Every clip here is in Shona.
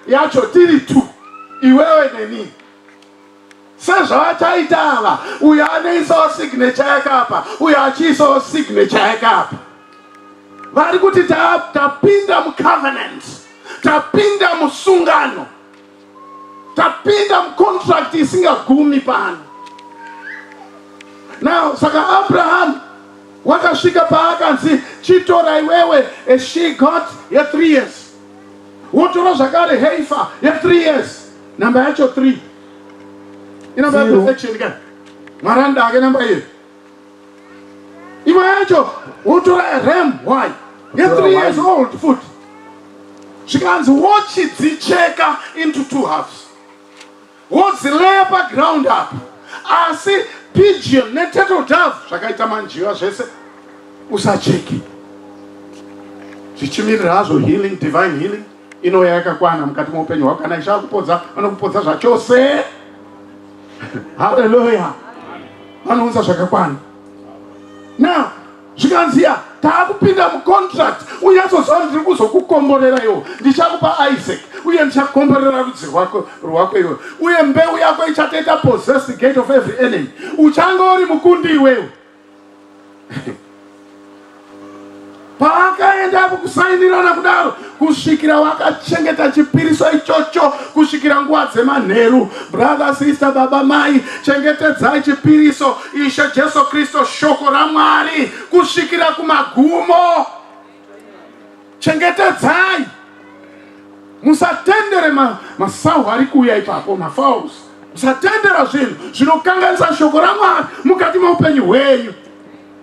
yacho tiri two iwewe neni sezvavachaita ava uyo anoisawo signature yake apa uyo achiisawo signature yake apa vari kuti ta- tapinda mucovenant tapinda musungano tapinda mucontract isingagumi pano now saka abrahamu wakasvika paakanzi chitora iwewe and she got ye three years wotora zvakare heifa ye 3 years namba yacho 3 inamba ya perfection ka mwari anoda hake namba iye imwe yacho wotora ram y ye 3 years old futi zvikanzi wochidzicheka into two halves wozileya paground apa asi pigeon neturtle dove zvakaita manjiva zvese usacheke zvichimirira hazvo healing divine healing inouya yakakwana mukati meupenyu hwako kana ishaa kupodza vanokupodza zvachose haleluya vanounza zvakakwana now zvikanziya taakupinda mucontract unyatsoziva kuti ndiri kuzokukomborera iwo ndichakupa isaac uye ndichakomborera rudzi rwako rwako iwe uye mbeu yako ichatoita possess the gate of every enemy uchanga uri mukundi iwewe paakaenda apo kusainirana kudaro kusvikira wakachengeta chipiriso ichocho kusvikira nguva dzemanheru brother sister baba mai chengetedzai chipiriso ishe jesu kristu shoko ramwari kusvikira kumagumo chengetedzai musatendere masahu ma ari kuuya ipapo mafaus musatendera zvinhu zvinokanganisa shoko ramwari mukati meupenyu hwenyu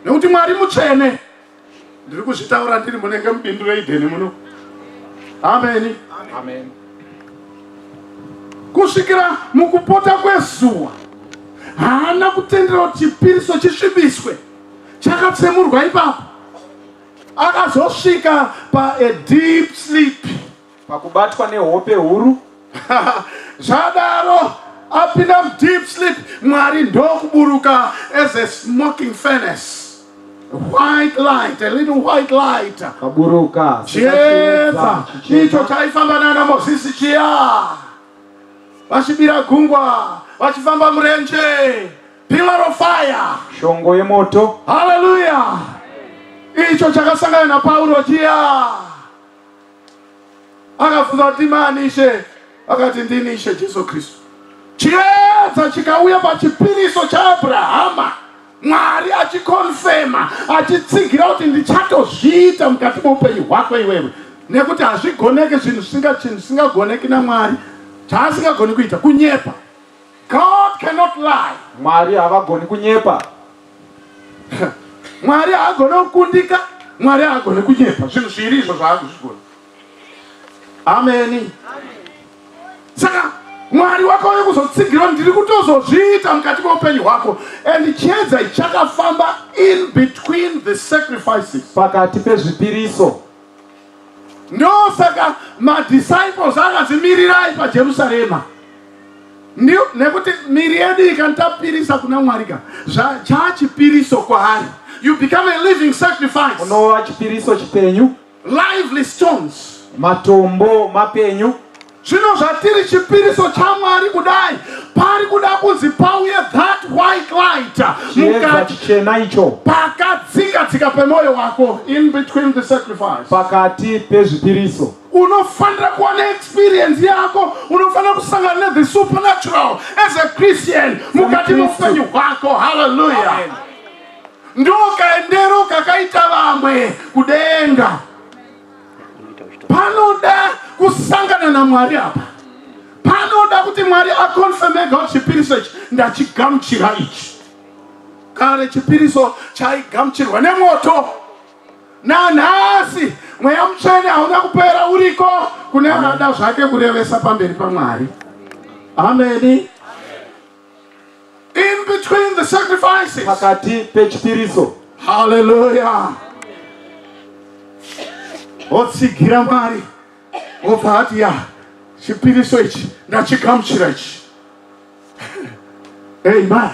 nekuti mwari mutsvene ndiri kuzvitaura ndiri munenge mubindu reidheni muno ameni ameni kusvikira mukupota kwezuva haana kutendera kuti chipiriso chisvibiswe chakatsemurwa ipapo akazosvika padeep sleep Pakubatwa nehope huru. Zvadaro apinda mudeep sleep mwari ndokuburuka as a smoking furnace white light, a little white light. Kaburuka. Chiedza. Icho chaifamba nana Mosisi chiya. Vachibira gungwa, vachifamba murenje. Pillar of fire. Shongo yemoto. Hallelujah. Icho chakasangana na Paulo chiya. Akabvunza kuti ndimani Ishe? Akati ndini Ishe Jesu Kristu. Chiedza chikauya pachipiriso chaAbrahama, Mwari achikonfema, achitsigira kuti ndichatozviita mukati meupenyu hwako iwewe, nekuti hazvigoneki zvinhu zvisingagoneki naMwari, chaasingagoni kuita kunyepa. God cannot lie. Mwari havagoni kunyepa. mwari haagone kukundika mwari haagone kunyepa zvinhu zviiri izvo zvaakuzvigona ameni saka mwari wakauya kuzotsigirwa ndiri kutozozviita mukati meupenyu hwako and chiedza ichakafamba in between the sacrifices pakati pezvipiriso Ndosaka madisciples akanzi mirirai paJerusarema nekuti miri yedu ikantapirisa kuna Mwari ka zvachaa chipiriso kwaari you become a living sacrifice unova chipiriso chipenyu lively stones matombo mapenyu Zvino zvatiri chipiriso chaMwari kudai, pari kuda kunzi pauye that white light mukati chena icho pakatsika tsika pemoyo wako, in between the sacrifice, pakati pezvipiriso unofanira kuva neexperience yako unofanira kusangana nethe supernatural as a christian mukati meupenyu hwako halleluya ndokaendero kakaita vamwe kudenga panoda kusangana namwari apa panoda kuti mwari akonfemega kuti chipiriso ichi ndachigamuchira ichi kare chipiriso chaigamuchirwa nemwoto nanhasi mweya mutsvene hauna kupera uriko kune anoda zvake kurevesa pamberi pamwari ameni In between the sacrifices. Pakati pechipiriso. Hallelujah. Otsigira Mwari. Obva hati ya chipiriso ichi ndachigamuchira ichi. Amen.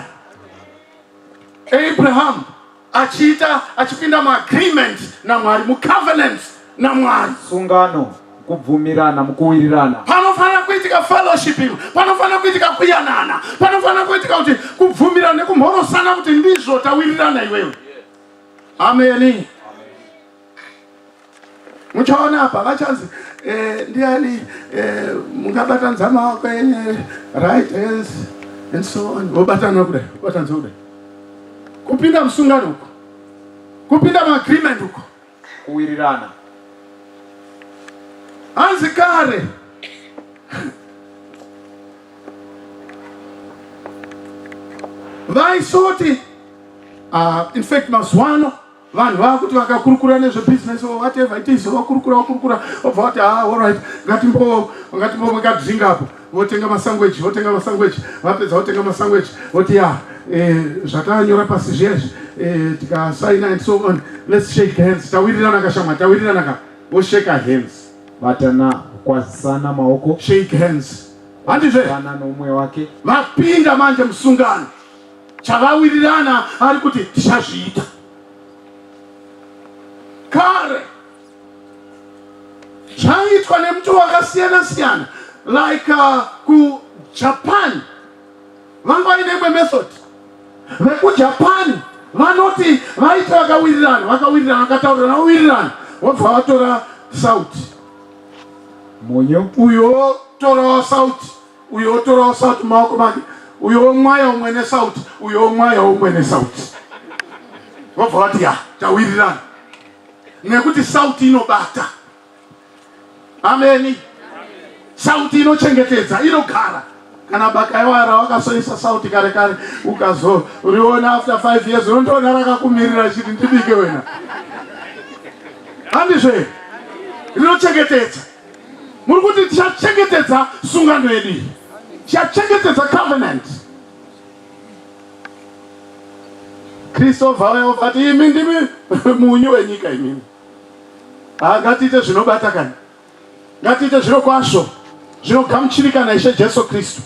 Abraham achiita achipinda muagreement namwari mucovenant namwari sungano kubvumirana mukuwirirana panofanira kuitika fellowship imo panofanira kuitika kuyanana panofanira kuitika kuti kubvumirana nekumhorosana kuti ndizvo tawirirana iwewe ameni muchaona apa vachanzi eh, ndiani eh, mungabata nzama wako yenye right hands and so on vobatana kudai vatanza kudai kupinda musungano uko kupinda maagreement uko kuwirirana hanzi kare vaisoti uh, ah, infact mazuva ano vanhu vava kuti vakakurukura nezvebusiness or whatever it is vakurukura vakurukura obva vati ha ah, allright ngatimbo ngatimbo ngadzinga apo votenga masangweji votenga masangweji vapedza votenga masangweji voti ya eh, zvatanyora pasi zviya izvi eh, tikasaina and so on let's shake hands tawirirana kashamwa tawirirana ka voshake hands vatana kwazisana maoko shake hands handizve ana nomwe wake vapinda manje musungano chavawirirana ari kuti tichazviita kare zvaiitwa nemuti wakasiyana siyana like uh, kujapan vanga vaine imwe method vekujapan vanoti vaiti vakawirirana vakawirirana vakataurirana vawirirana vobva vatora sauti munyu uyo torawo sauti uyo otorawo sauti maoko make uyo omwaya umwe nesauti uyo omwaya umwe nesauti vobva vati ya tawirirana nekuti sauti inobata ameni sauti inochengetedza inogara kana bakaiwara wakasoisa sauti kare kare ukazoriona after five years unondoona rakakumirira chiti ndibike wena handizve rinochengetedza Muri kuti tichachengetedza sungano yedu iyi, tichachengetedza covenant. Kristu obva uya obva ati imi ndimi munyu wenyika imimi. Ah, ngatiite zvinobata kana, ngatiite zviro kwazvo zvinogamuchirika naIshe Jesu Kristu.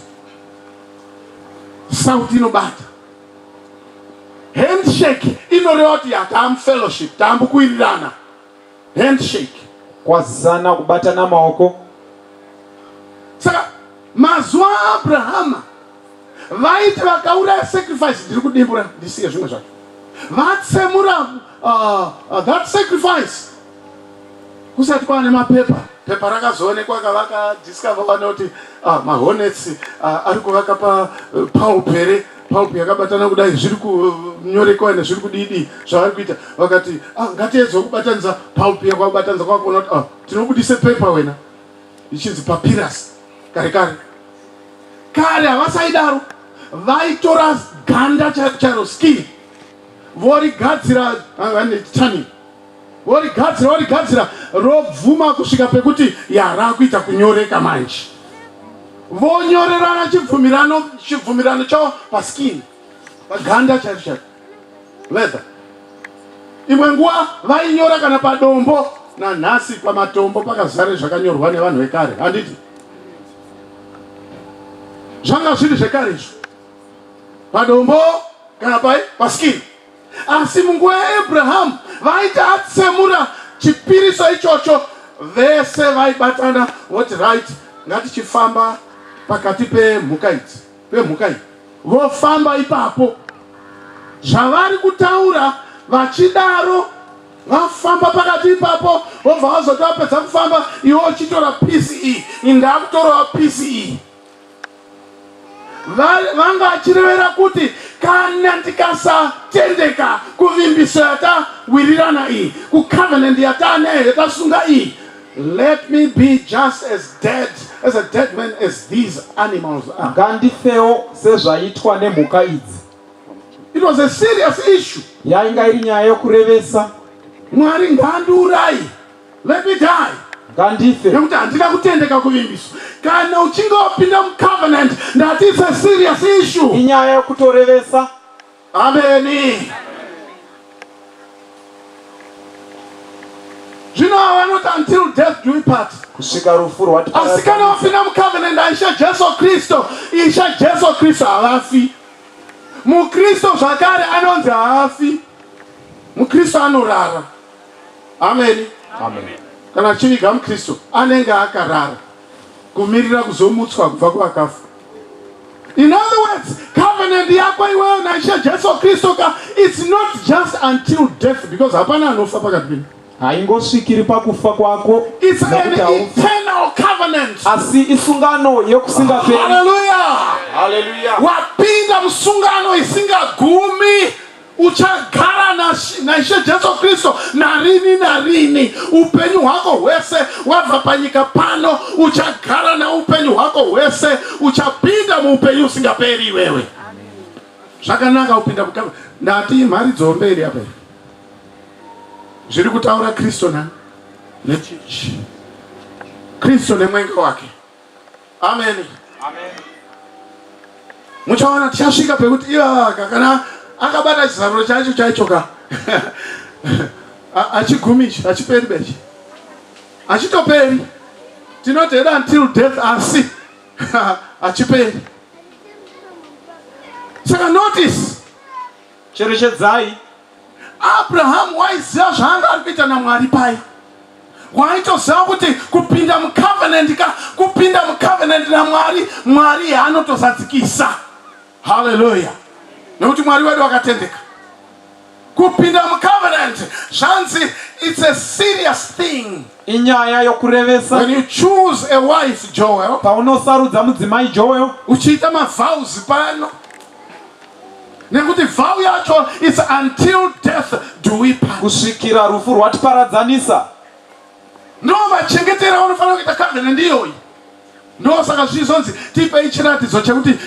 Sauti inobata handshake inoreva kuti hatamu fellowship tambu kuwirirana handshake kwazisana kubatana maoko saka mazuva aabrahama vaiti vakauraya sacrifice ndiri kudimbura ndisiye zvimwe zvacho vatsemura uh, uh, that sacrifice kusati kwaane mapepa Pepa rakazoonekwa kavaka discover vane kuti ah, mahonets ah, ari kuvaka pa eh, pulp here pulp yakabatana kudai zviri kunyorekewa nezviri kudidi zvavari kuita vakati ah, ngatiedzwe kubatanidza pulp yakwakubatanidza kwakuona kuti ah, tinobudise pepa wena ichinzi papirasi kare kare kare havasaidaro vaitora ganda charo skin vorigadzira ah, vane tani Vorigadzira vorigadzira robvuma kusvika pekuti yarakuita kunyoreka manje. Vonyorerana chibvumirano chibvumirano chavo paskin paganda chacho chacho leather. Imwe nguva vainyora kana padombo nanhasi pamatombo pakazare zvakanyorwa nevanhu vekare handiti zvanga zviri zvekare izvo padombo kana pai paskin Asi munguva yaAbrahamu vaiti atsemura chipiriso ichocho, vese vaibatana voti right, ngatichifamba pakati pemhuka idzi pemhuka iyi, vofamba ipapo zvavari kutaura vachidaro vafamba pakati ipapo vobva vazoti vapedza kufamba iwe uchitora pisi iyi indakutorawo pisi iyi vanga achirevera kuti kana ndikasatendeka kuvimbiso yatawirirana iyi kucovenant yataanayo yatasunga iyi let me be just as dead as a dead man as these animals are ngandifewo sezvaitwa nemhuka idzi it was a serious issue yainga iri nyaya yokurevesa mwari ngandiurayi Let me die. Ngandife. Nekuti handina kutendeka kuvimbiswa. Kana uchinge wapinda mucovenant that is a serious issue. Inyaya yokutorevesa. Ameni. Zvino vanoti until death do we part. Kusvika rufu rwati. Asi kana wapinda mucovenant aisha Jesu Kristo, isha Jesu Kristo havafi. Mukristo zvakare anonzi haafi. Mukristo anorara. Amen. Amen. Kana achiviga muKristu anenge akarara kumirira kuzomutswa kubva kuvakafa. In other words, covenant yako iwewe naIshe Jesu Kristu ka it's not just until death because hapana anofa pakati penyu. Haingosvikiri pakufa kwako. It's an eternal covenant. Asi isungano yekusingaperi. Hallelujah. Hallelujah. Wapinda musungano isingagumi. uchagara naishe jesu kristu narini narini upenyu hwako hwese wabva panyika pano uchagara naupenyu hwako hwese uchapinda muupenyu usingaperi iwewe zvakanaka kupinda kutamba ndati mhari dzomberi apa zviri kutaura kristu na nechichi kristu nemwenga wake ameni muchaona tichasvika pekuti ivavaka kana akabata chizaruro chacho chaichoka achigumichi achiperi bechi achitoperi tinoti heda until death asi achiperi saka notice cherechedzai Abrahamu waiziva zvaanga ari kuita naMwari paye. Waitoziva kuti kupinda mucovenant ka kupinda mucovenant naMwari, Mwari anotozadzikisa. Haleluya. Nekuti Mwari wedu wakatendeka. Kupinda mucovenant zvanzi it's a serious thing. inyaya yokurevesa When you choose a wife, Joel, paunosarudza mudzimai joel uchiita mavows pano nekuti vow yacho is until death do we part kusvikira rufu rwatiparadzanisa ndo machengetero aunofana kuita covenant iyoyi ndo saka zvizonzi tipei chiratidzo chekuti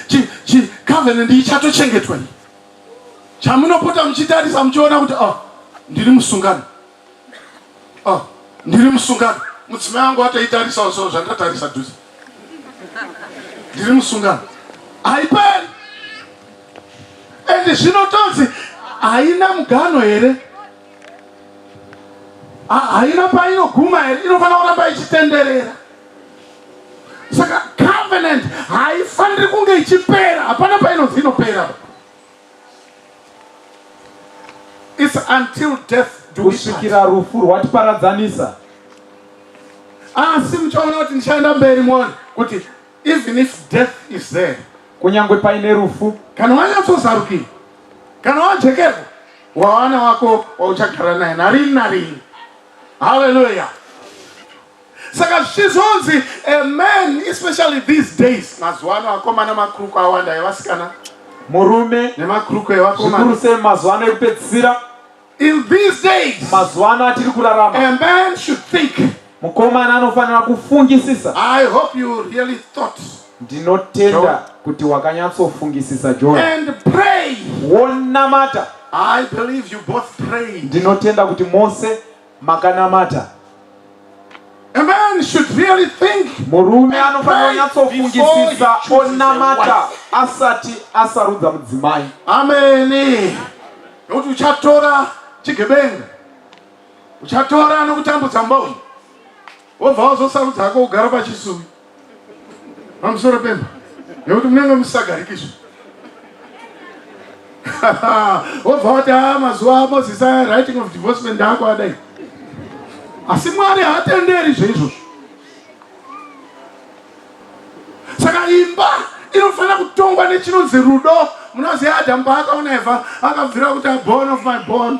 covenant iyi chatochengetwa iyi chamunopota muchitarisa muchiona kuti oh ndiri musungano Oh, ndiri musungano mudzimai wangu atoitarisawo so zvandatarisa dhuze ndiri musungano haiperi ende zvinotonzi haina mugano here haina painoguma here inofanira kuramba ichitenderera saka covenant haifaniri kunge ichipera hapana painonzi inopera It's until death do we kusvikira part. rufu rwatiparadzanisa Asi muchaona kuti ndichaenda mberi muone kuti even if death is there, kunyange paine rufu kana wanyatsozarukirwa, kana wajekerwa, wawana wako wauchagara naye narini narini. Haleluya! saka zvichizonzi a man especially these days mazuva ano akomana makruku awanda evasikana murume nemakruku evakomana sei mazuva ano ekupedzisira in these days mazuva ano atiri kurarama a man should think mukomana anofanira kufungisisa i hope you really thought ndinotenda kuti wakanyatsofungisisa john and pray wonamata i believe you both prayed ndinotenda kuti mose makanamata A man should really think murume anofanira kunyatsofungisisa onamata asati asarudza mudzimai ameni nokuti uchatora chigebenga uchatora nokutambudza mboni wobva wazosarudza hako kugara pachisuvi pamusoro pemba nekuti munenge musisagarikizve wobva wati a ah, mazuva amozisi aya writing of divorcement ndako adai asi mwari haatenderi zveizvozvo saka imba inofanira kutongwa nechinonzi rudo munoziva adamu paakaona eva akabvira kuti abon of my bon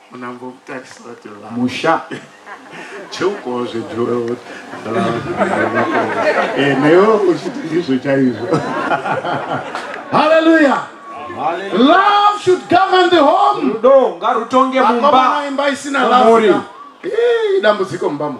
musha cheukowo zvedhurout eh, newo uchiti ndizvo chaizvo haleluya love should govern the home rudo ngarutonge mumba imba isina love idambudziko mumbamo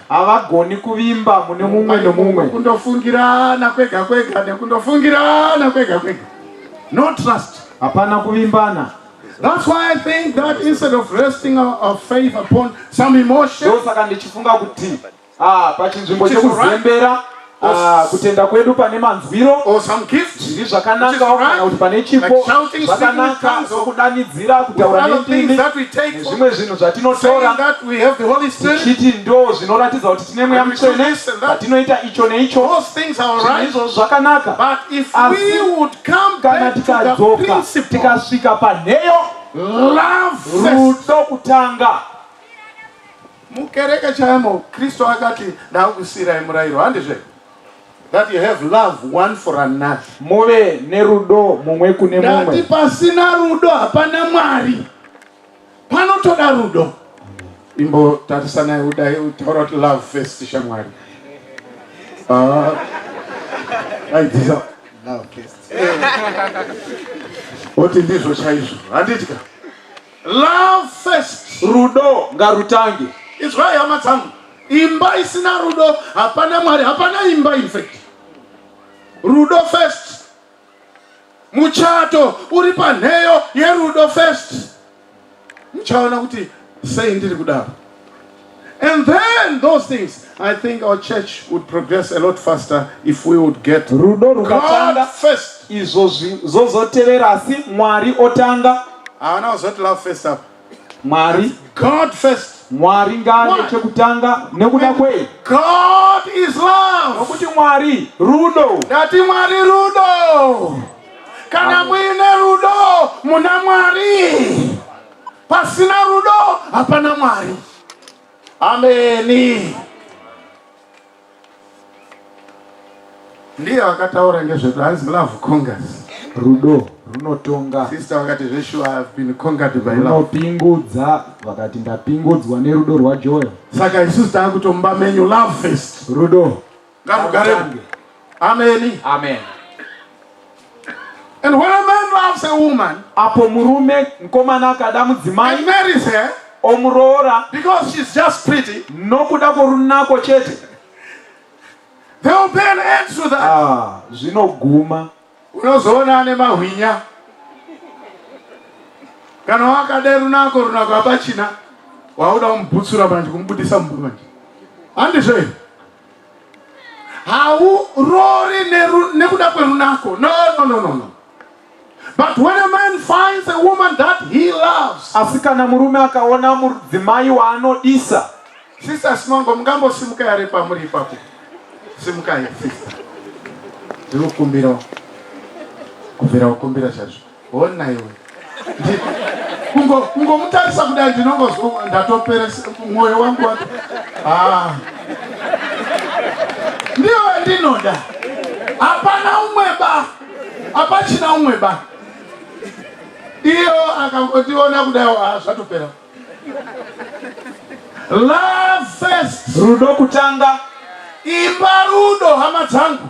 havagoni kuvimba mune mumwe nomumwe kundofungirana kwega kwega nekundofungirana kwega kwega no trust hapana kuvimbana That's why I think that instead of resting our, our faith upon some emotion, ndosaka ndichifunga kuti ah pachinzvimbo chekuzembera Ah, kutenda kwedu pane manzwiro zviri zvakanakawo kana kuti pane chipo zvakanaka sokudanidzira kutaura nendimi nezvimwe zvinhu zvatinotora tichiti ndo zvinoratidza kuti tine mweya mutsvene patinoita icho neicho izvo zvakanaka asi kana tikadzoka tikasvika panheyo rudo kutanga Mukereke chaimo Kristu akati ndakusiirai murayiro handizve that you have love one for another. Muve nerudo mumwe kune mumwe. Ndati pasina rudo hapana Mwari. Panotoda rudo. Imbo tatisanai udai utaura kuti love first shamwari. Ah. Aidzisa love first. Oti ndizvo chaizvo. Handiti ka? Love first. Rudo ngarutange. Izwai hama dzangu. Imba isina rudo hapana Mwari, hapana imba in fact. Rudo first. Muchato uri panheyo yerudo first. Muchaona kuti sei ndiri kudaro. And then those things, I think our church would progress a lot faster if we would get rudo rukatanga first. Izvo zvozotevera asi Mwari otanga. Haana kuzoti love first up. Mwari. God first. Mwari ngaane chekutanga nekuda kwei? God is love. Nokuti Mwari rudo. Ndati Mwari rudo. Kana muine rudo muna Mwari. Pasina rudo hapana Mwari. Ameni. Ndiye wakataura ngezvedu hanzi love congas. Rudo runotonga. Sister vakati zveshuwa I have been conquered by love. Runopingudza vakati ndapingudzwa nerudo rwaJoel. Saka isusu takutomba menyu love first. Rudo. ngarugare kuwe ameni amen and when a man loves a woman apo murume mukomana akada mudzimai and marries her omuroora because she's just pretty nokuda kworunako chete they will pay an end to that ah, zvinoguma unozoona ane mahwinya kana wakada runako runako hapachina wauda kumubutsura manje kumubudisa mumba manje handizvo here hauroori nekuda kwerunako no no no no no But when a man finds a woman that he loves, asi kana murume akaona mudzimai waanodisa sister simango mungambosimuka yare pamuri ipapo simukai sister ndinokumbirawo kumbira kumbira chaizvo Hona iwe. Kungo kungomutarisa kudai ndinongozwa ndatopera mwoyo wangu wacho. Ah. Ndiyo ndinoda. Hapana umwe ba. Hapachina umwe ba. Iyo akangotiona kudai ah, zvatopera. Love first. Rudo kutanga. Imba rudo hama dzangu.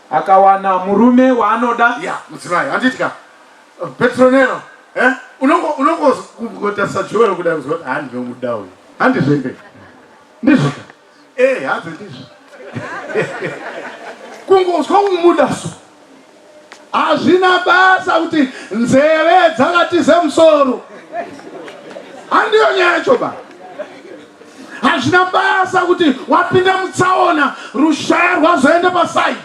akawana murume waanoda ya mudzimai handitya petronero eh? unongotarisa joero kuda kuzwa kuti handi ndomuda uyu handizvo inde ndizvoka e eh, hanzi ndizvo kungozwa kumuda so hazvina basa kuti nzeve dzakatize musoro handiyo nyaya choba hazvina basa kuti wapinda mutsaona rushaya rwazoenda pasaidi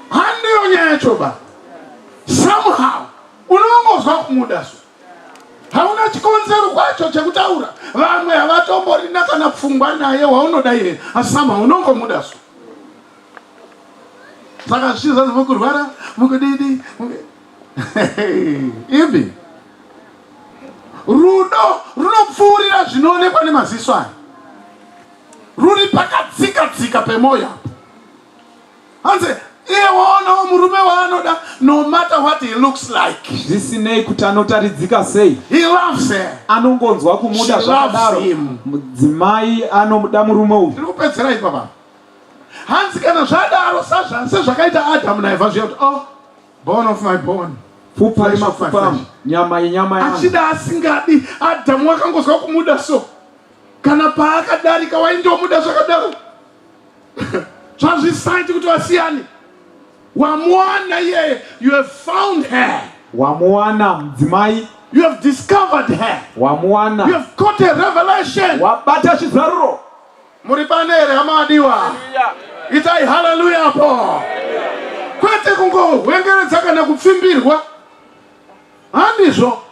handiyo nyaya yacho ba somehow unongozwa kumuda so hauna chikonzero kwacho chekutaura vamwe havatomborina kana pfungwa naye waunoda iye asi somehow unongomuda so saka zvichizazi mukurwara mukudidi ipi rudo runopfuurira zvinoonekwa nemaziso aya ruri pakatsika tsika pemwoyo apo hanzi iye waonawo murume waanoda no matter what he looks like zvisinei kuti anotaridzika sei he loves her anongonzwa kumuda zvakadaro mudzimai anomuda murume uyu tiri kupedzera ipapa hanzi kana zvadaro sezvakaita adamu naevha zviya kuti oh Bone of my bone. Pfupa remapfupa angu, nyama yenyama yangu. Achida asingadi, Adamu wakangozwa kumuda so. Kana paakadarika waindomuda zvakadaro. Zvazvisaiti kuti wasiyane. Wamuwana iyeye, you have found her. Wamuwana mudzimai. You have discovered her. Wamuwana. You have caught a revelation. Wabata chizaruro. Muri pane here hama adiwa? Itai haleluya apo. Kwete kungohwengeredza kana kupfimbirwa. Handizvo.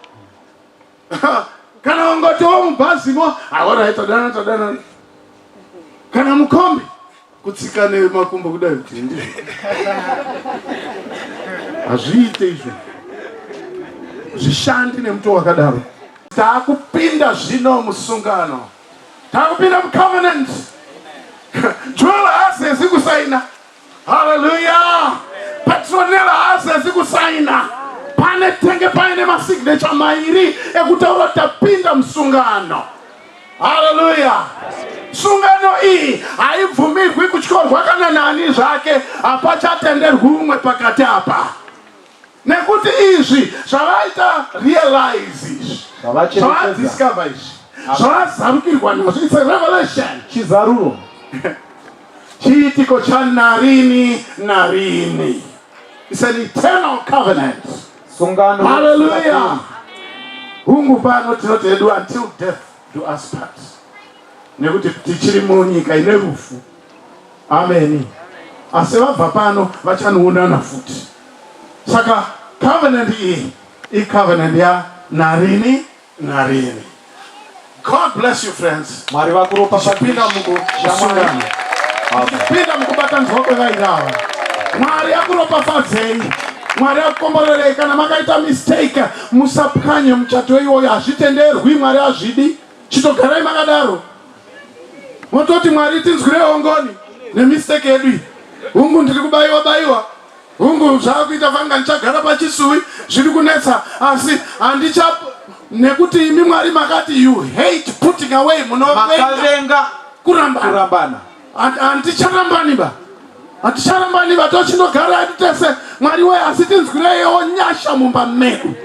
kana wangotiwo mubhazimo aora ah, tadana tadana kana mukombi kutsika nemakumbo kudai kuti ndizvo hazviite izvo zvishandi nemuto wakadaro taakupinda zvino musungano takupinda mucovenant joel haasezi kusaina haleluya petronel haasezi kusaina pane tenge paine masignature mairi ekutaura kuti tapinda musungano haleluya sungano iyi haibvumirwi kutyorwa kana nani zvake hapachatenderwi umwe pakati apa nekuti izvi zvavaita realize izvi zvavadiscover izvi zvavazarukirwa nazvo its a revelation chizaruro chiitiko chanarini narini its an eternal covenant sungano haleluya hungu pano tinoti hedu until death do us part nekuti tichiri munyika ine rufu Ameni. Asi vabva pano vachanoonana futi. Saka covenant iyi icovenant ya narini narini. God bless you friends. Mwari vakuropa Zvipinda muku shamwari. Zvipinda mukubatanzwa kwevairava. Mwari akuropafadzei. Mwari akukomborerei kana makaita mistake musapwanye muchato iwoyo hazvitenderwi Mwari hazvidi. Chitogarai makadaro. mototi mwari tinzwirewo ngoni nemistake yedu iyi hungu ndiri kubayiwa bayiwa hungu zvaakuita vanga ndichagara pachisuwi zviri kunetsa asi handicha nekuti imi mwari makati you hate putting away munovenga kurambana handicharambani ba handicharambani ba tochinogara ati tese mwari wee asi tinzwireyewo nyasha mumba medu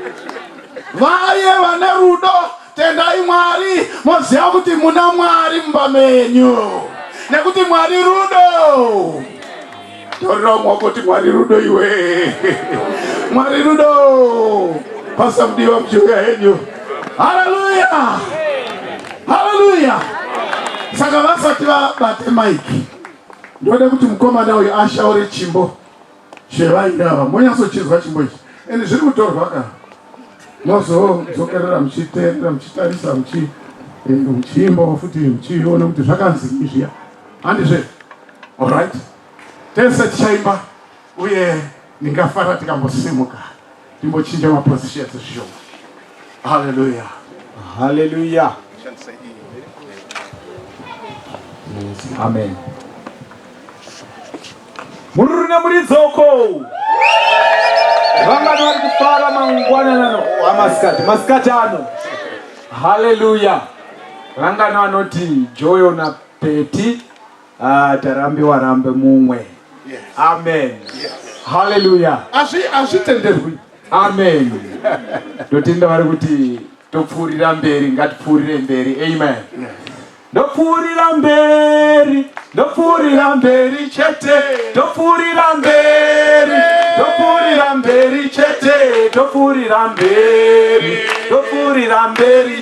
vaye vane rudo Tendai Mwari moziva kuti muna Mwari mumba menyu nekuti Mwari rudo. Torerawo mwoko kuti Mwari rudo iwe. Mwari rudo. Pasa mudiwa mchiuya henyu. Haleluya. Haleluya. Saka vasati vabate maiki. Ndoda kuti mukomana uyu ashaure chimbo. Shevai ava monyatsochizwa chimbo ichi and zviri kutorwa ka mozodzokerera muchiterera muchitarisa muchi eh, muchiimbawo futi muchiona kuti zvakanzi izviya handizve allright tese tichaimba uye ndingafara tikambosimuka Timbochinja ma positions zvishoma. Hallelujah. Hallelujah. Amen. Mururi nemuridzoko. Vangani vari kufara mangwanana ano amasikati oh, masikati ano. Hallelujah. Vangani vanoti Joyo na Peti Ah, tarambiwa rambe mumwe. Yes. Amen. Yes. Hallelujah. Azvi azvitenderwi. Amen. Ndotinda vari kuti topfuurira mberi ngatipfuurire mberi. Amen. Yes. Ndopfuurira mberi, ndopfuurira mberi chete, ndopfuurira mberi, ndopfuurira mberi chete, ndopfuurira mberi, ndopfuurira mberi.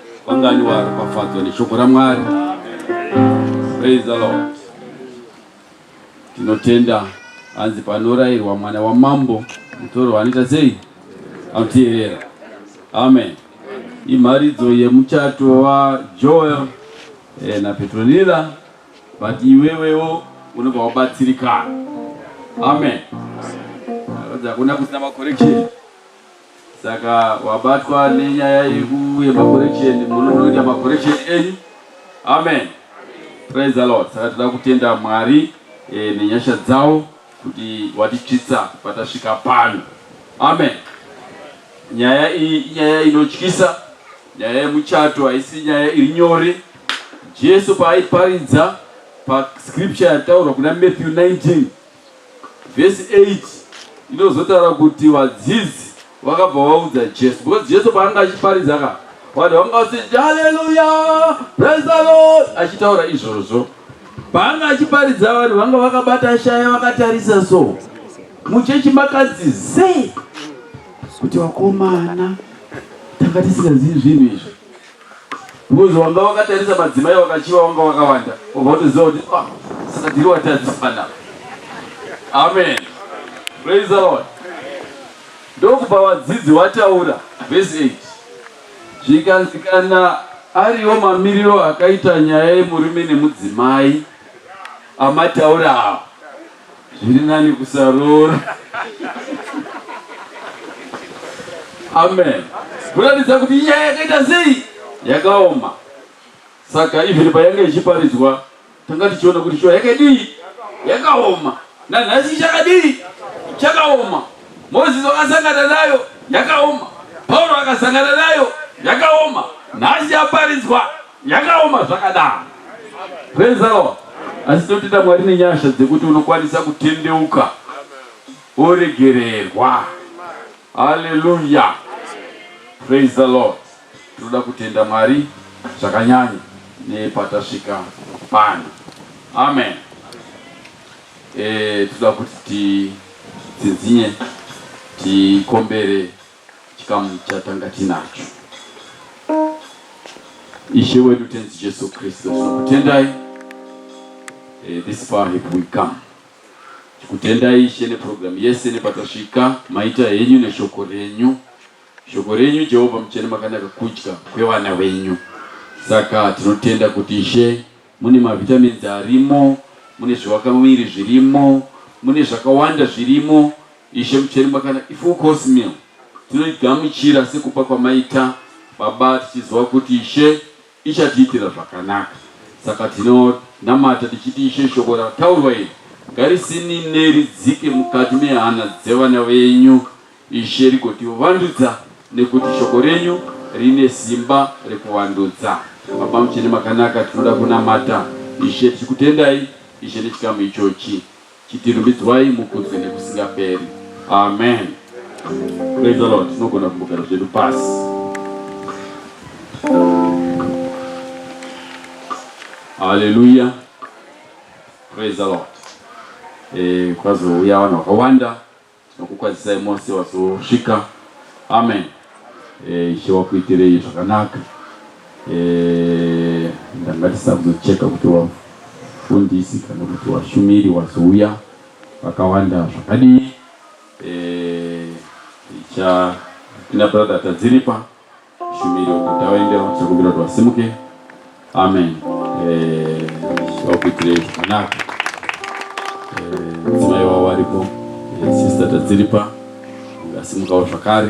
Vangani varopafadzwa neshoko raMwari. Praise the Lord. Tinotenda hanzi panorairwa mwana wamambo mutoro anoita sei? Anoteerera. Amen. Imharidzo yemuchato waJoel eh, naPetronila but iwewewo unobva wabatsirikana. Amen. Hakuna kusina macorrection. Saka wabatwa nenyaya yekuuye makoreksheni munonoita makoreksheni enyu. Amen. Praise the Lord. Saka toda kutenda Mwari e, nenyasha dzawo kuti watitsvitsa patasvika pano. Amen. Nyaya iyi inyaya inotyisa, nyaya yemuchato haisi nyaya iri nyore. Jesu paaiparidza pascripture yataurwa kuna Matthew 19 Vhesi 8 inozotaura kuti vadzidzi vakabva vaudza Jesu because Jesu paanga achiparidza ka vanhu vanga vachiti haleluya praise the lord achitaura izvozvo paanga achiparidza vanhu vanga vakabata shaya vakatarisa so muchechi makadzi ze kuti vakomana tanga tisingazivi zvinhu izvi Because wanga wakatarisa madzimai wakachiva wanga wakawanda obva utoziva kuti ah, saka tiri watadzisana. Amen. Praise the Lord. Ndokupa vadzidzi wataura verse 8. Zvikanzi kana ariwo mamiriro akaita nyaya yemurume nemudzimai amataura awo zviri nani kusaroora amen kuratidza kuti nyaya yakaita sei yakaoma saka even payanga ichiparidzwa tanga tichiona kuti shuwa yakadii yakaoma nanhasi chakadii chakaoma mozisi wakasangana nayo yakaoma pauro akasangana nayo yakaoma nhasi yaparidzwa Yakaoma zvakadaro. Praise the Lord. Asi totenda Mwari nenyasha dzekuti unokwanisa kutendeuka woregererwa. Haleluya. Praise the Lord. Tinoda kutenda Mwari zvakanyanya nepatasvika pano. Amen. Eh, tinoda kuti titsinzinye tikombere Chikamu chatanga tinacho. Ishe wedu Tenzi Jesu Kristu, tinokutendai eh, this far have we come. Tikutendai Ishe neprogramu yese nepatasvika, maita henyu neshoko renyu. Shoko renyu Jehovha muchene makanaka kudya kwevana venyu. Saka tinotenda kuti Ishe Mune mavitamins arimo, mune zviwakamuviri zvirimo, mune zvakawanda zvirimo. Ishe mucheri makana ifull course meal tinoigamuchira sekupa kwamaita Baba tichiziva kuti Ishe ichatiitira zvakanaka. Saka tinonamata tichiti Ishe shoko rataurwa iri ngarisinine ridzike mukati mehana dzevana venyu Ishe rigotiwo vandudza nekuti shoko renyu rine simba rekuvandudza. Baba muchene makanaka tinoda kunamata Ishe tichikutendai Ishe nechikamu ichochi chitirumbidzwai mukudzwe nekusingaperi. Amen. Praise the Lord. Tinogona kumbogara zvedu pasi. Hallelujah. Praise the Lord. Eh, kwazouya vanhu vakawanda Tinokukwazisai mose wazosvika. Amen. Eh, Ishe wakuitirei zvakanaka. Eh, ndangatisa kuzocheka kuti wafundisi kana kuti washumiri wazouya vakawanda zvakadii. Eh, icha tina brother Tadziripa. Shumiro kuti awaendewo tichakumbira kuti vasimuke. Amen. Eh, vakuitire zvakanaka. Eh, mudzimai wavo varipo. Eh, Sister Tadziripa vasimukawo zvakare.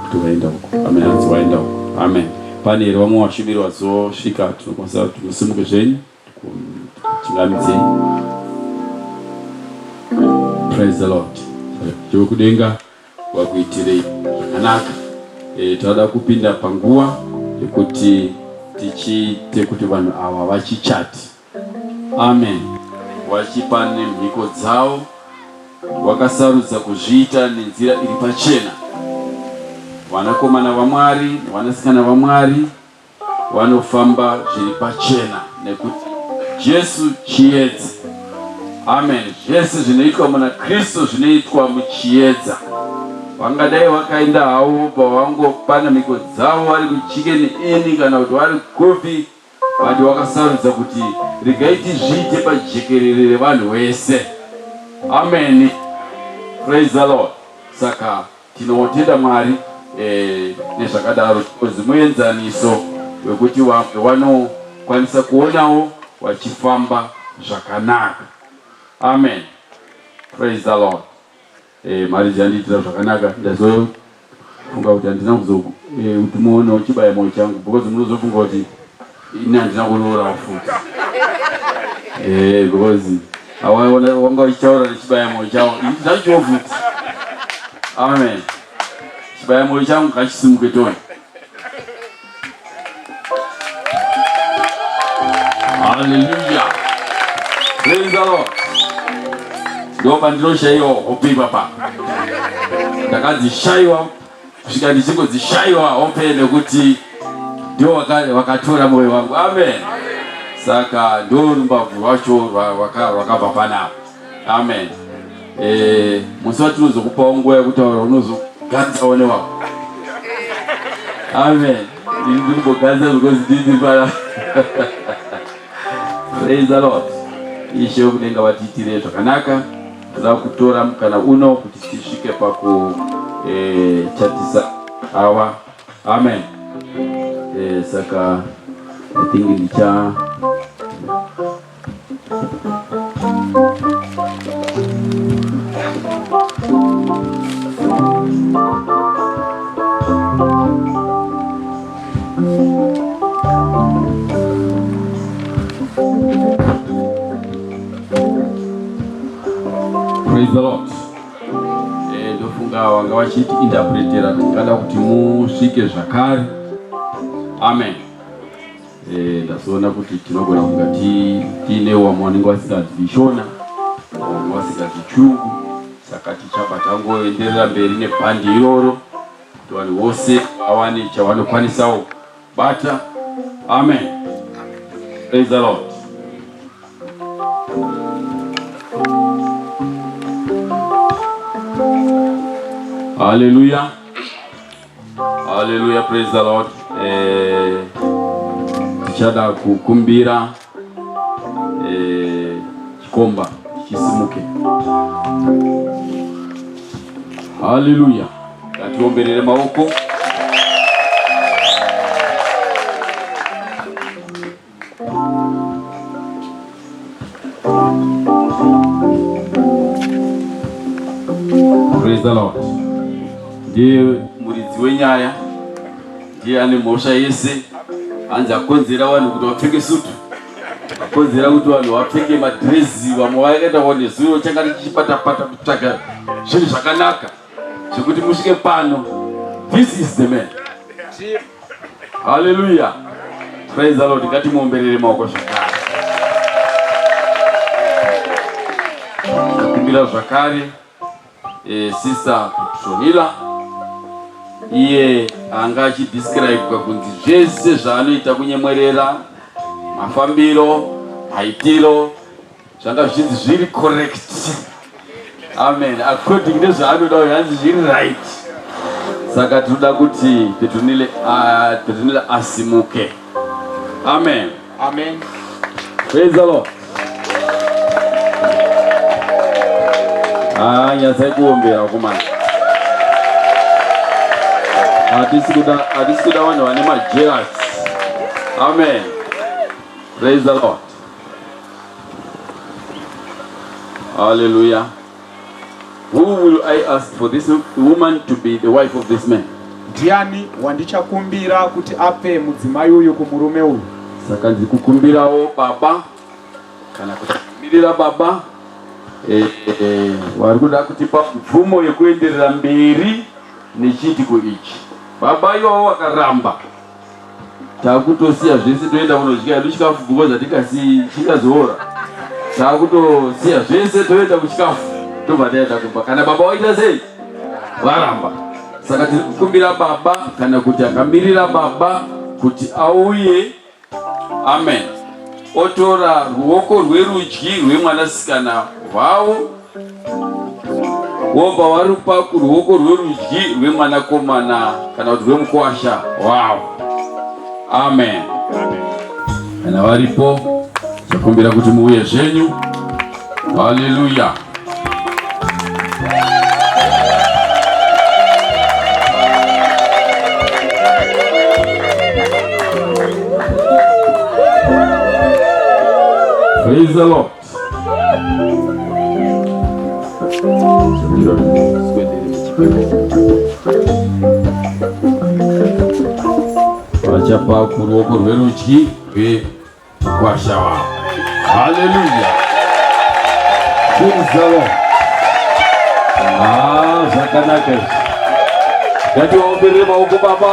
Kuti waenda uko. Amen. Hanzi waenda uko. Amen. Pane here vamwe vashumiri vazosvika tinokwanisa kuti musimuke zvenyu. Chingamidze. Praise the Lord. Jehovha kudenga wakuitirei zvakanaka. E, tinoda kupinda panguva yekuti tichiite kuti vanhu ava vachichati amen vachipa nemhiko dzavo vakasarudza kuzviita nenzira iri pachena vanakomana vamwari nevanasikana vamwari Vanofamba zviri pachena nekuti Jesu chiedza. Amen. Zvese zvinoitwa muna Kristu zvinoitwa muchiedza. Vangadai vakaenda havo vobva vangopana mhiko dzavo vari kuchikeni ini kana kuti vari kupi, vati vakasarudza kuti regai tizviite pajekerere revanhu vese. Amen. Praise the Lord. Saka Tinotenda Mwari eh, nezvakadaro because muenzaniso wekuti vamwe vanokwanisa kuonawo vachifamba zvakanaka. Amen. Praise the Lord. Eh, marriage yandiitira zvakanaka ndazo funga kuti handina kuzokuti eh, muone uchibaya moyo changu because munozofunga kuti ini handina kuroora futi eh, because awaona wanga uchitaura nechibaya moyo chavo zvacho futi amen chibaya moyo changu ngachisimuke toni haleluya praise the lord ndomba ndinoshaiwa hope ipapa ndakadzishaiwa kusvika ndichingodzishaiwa hope nekuti ndiwo wakatora moyo wangu amen saka ndo rumbabvu rwacho rwakabva panapa amen eh, musi watinozokupawo nguva yekutaura unozoganzawo newako amen ndikuboganza because ndini pana praise the lord ishe wekudenga vatiitire zvakanaka Za kutora mukana uno kuti tisvike pakuchatisa eh, awa amen eh, saka i think ndicha Praise the Lord. Eh, ndofunga wanga wachiti interpretera tingada kuti musvike zvakare. Amen. Eh, ndazoona kuti tinogona kunga tiine wamwe wanenge wasinganzwi shona wamwe wasinganzwi chungu saka tichabva tangoenderera mberi nebhandi iroro kuti vanhu vose vawane chavanokwanisawo bata amen praise the lord haleluya haleluya praise the lord eh, tichada kukumbira Eh, chikomba chisimuke. Haleluya. Ngatiomberere maoko. Praise the Lord. Ndiye muridzi wenyaya ndiye ane mhosva yese hanzi akonzera vanhu kuti vapfeke sutu akonzera kuti vanhu vapfeke madhirezi vamwe vakaita one zuva changa tichipatapata kutsvaga zvinhu zvakanaka zvekuti musvike pano this is the man haleluya praise the lord ngatimuomberere maoko zvakare akumbira zvakare E, sister Sohila iye anga achidescribe kunzi zvese zvaanoita kunyemwerera mafambiro maitiro zvanga zvichinzi zviri correct amen according nezvaanoda uyo hanzi zviri right saka tinoda kuti petunile ah, asimuke amen Amen. Praise the Lord. Ah, nyasai kuombera kumana. Hatisi kuda hatisi kuda vanhu vane majealous. Amen. Praise the Lord. Hallelujah. Who will I ask for this woman to be the wife of this man? Ndiani wandichakumbira kuti ape mudzimai uyu kumurume uyu? Saka ndikukumbirawo baba kana kumirira baba eh, eh, vari kuda kutipa mvumo yekuenderera mberi nechiitiko ichi. Baba iwawo wakaramba. takutosiya zvese toenda kunodya hedu chikafu because hatikasi chingazoora takutosiya zvese toenda kuchikafu tobva taenda kumba kana baba waita sei varamba saka tiri kukumbira baba kana kuti akamirira baba kuti auye amen otora ruoko rwerudyi rwemwanasikana wavo wobva warupa kuruoko rwerudyi rwemwanakomana kana kuti rwemukwasha wow amen kana varipo takumbira kuti muuye zvenyu haleluya Praise the Lord. vachapa kuruoko rwerudyi rwekwasha wavo haleluya zvinzavo ah, zvakanaka izvi ngativaomberere maoko baba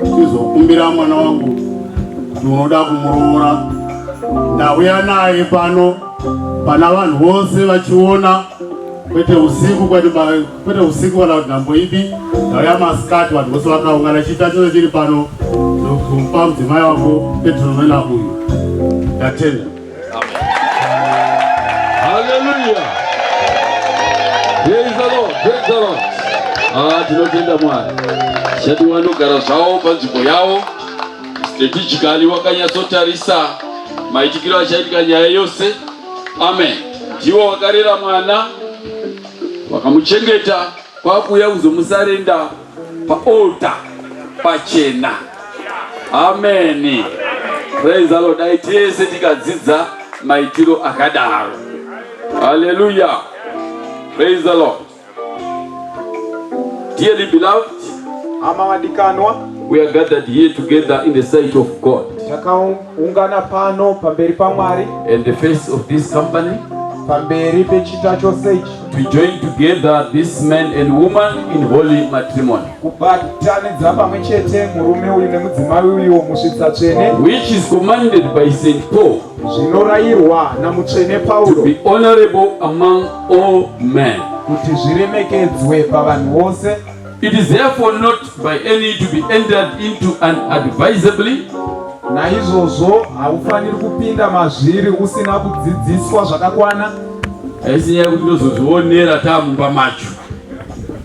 Ndichizokumbira mwana wangu kuti unoda kumuroora, ndauya naye pano pana vanhu vose vachiona, kwete usiku, kwete usiku kana kuti nhambo ipi. Ndauya masikati, vanhu vose vakaungana, chiita chose chiri pano, ndokupa mudzimai wako Petronella uyu. Ndatenda. Hallelujah. Praise the Lord. Praise the Lord. Ah, tinotenda Mwari. Shadi wanogara zvawo panzvimbo yawo. Strategically wakanyatsotarisa maitikiro achaitika nyaya yose. Amen. Ndiwo wakarera mwana wakamuchengeta kwakuya kuzomusarenda paolta pachena ameni praise the lord dai tese tikadzidza maitiro akadaro haleluya praise the lord dearly beloved hama vadikanwa we are gathered here together in the sight of god Ungana pano pamberi paMwari. And the face of this company. Pamberi pechita chose ichi. To join together this man and woman in holy matrimony. Kubatanidza pamwe chete murume uyu nemudzimai uyu musvitsa tsvene. Which is commanded by Saint Paul. Zvinorayirwa namutsvene Paulo. To be honorable among all men. Kuti zviremekedzwe pavanhu vose. It is therefore not by any to be entered into unadvisably. Naizvozvo haufaniri kupinda mazviri usina kudzidziswa zvakakwana. Haisi nyaya yekuti ndozozvionera taamumba macho.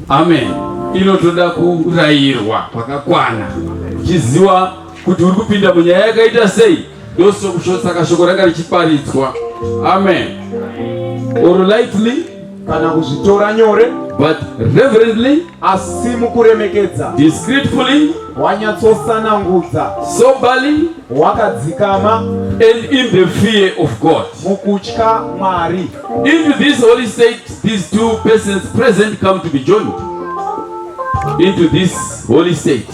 Amen. Inotoda kurayirwa kwakakwana uchiziwa kuti uri kupinda munyaya yakaita sei. ndosaka shoko ranga richiparidzwa amen or lightly kana kuzvitora nyore but reverently asi mukuremekedza discreetfully wanyatsotsanangudza soberly wakadzikama and in the fear of god mukutya mwari into this holy state these two persons present come to be joined into this Holy State,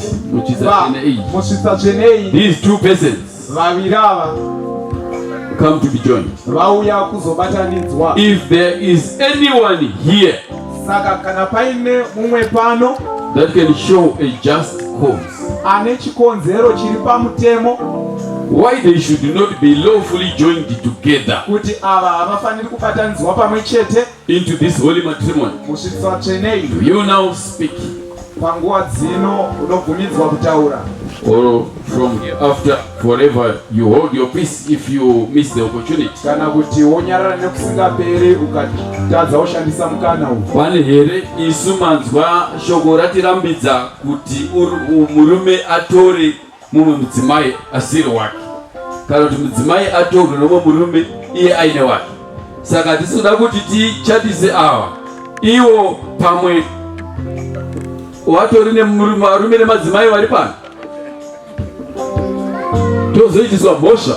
musvitsa tsvene iyi, these two persons, vaviri ava, come to be joined, vauya kuzobatanidzwa. If there is anyone here, saka kana paine mumwe pano, that can show a just cause, ane chikonzero chiri pamutemo why they should not be lawfully joined together, kuti ava havafaniri kubatanidzwa pamwe chete. into this holy matrimony musvitsa tsvenei do you now speak panguva dzino unobvumidzwa kutaura or from here after forever you hold your peace if you miss the opportunity kana kuti wonyarara nekusingaperi ukatadza woshandisa mukana uyu pane here isu manzwa shoko ratirambidza kuti murume atore mumwe mudzimai asiri wake kana kuti mudzimai atorwe nomwe murume iye aine wake saka hatisi kuda kuti tichatise awa iwo pamwe watori nevarume nemadzimai vari pano tozoitiswa mhosva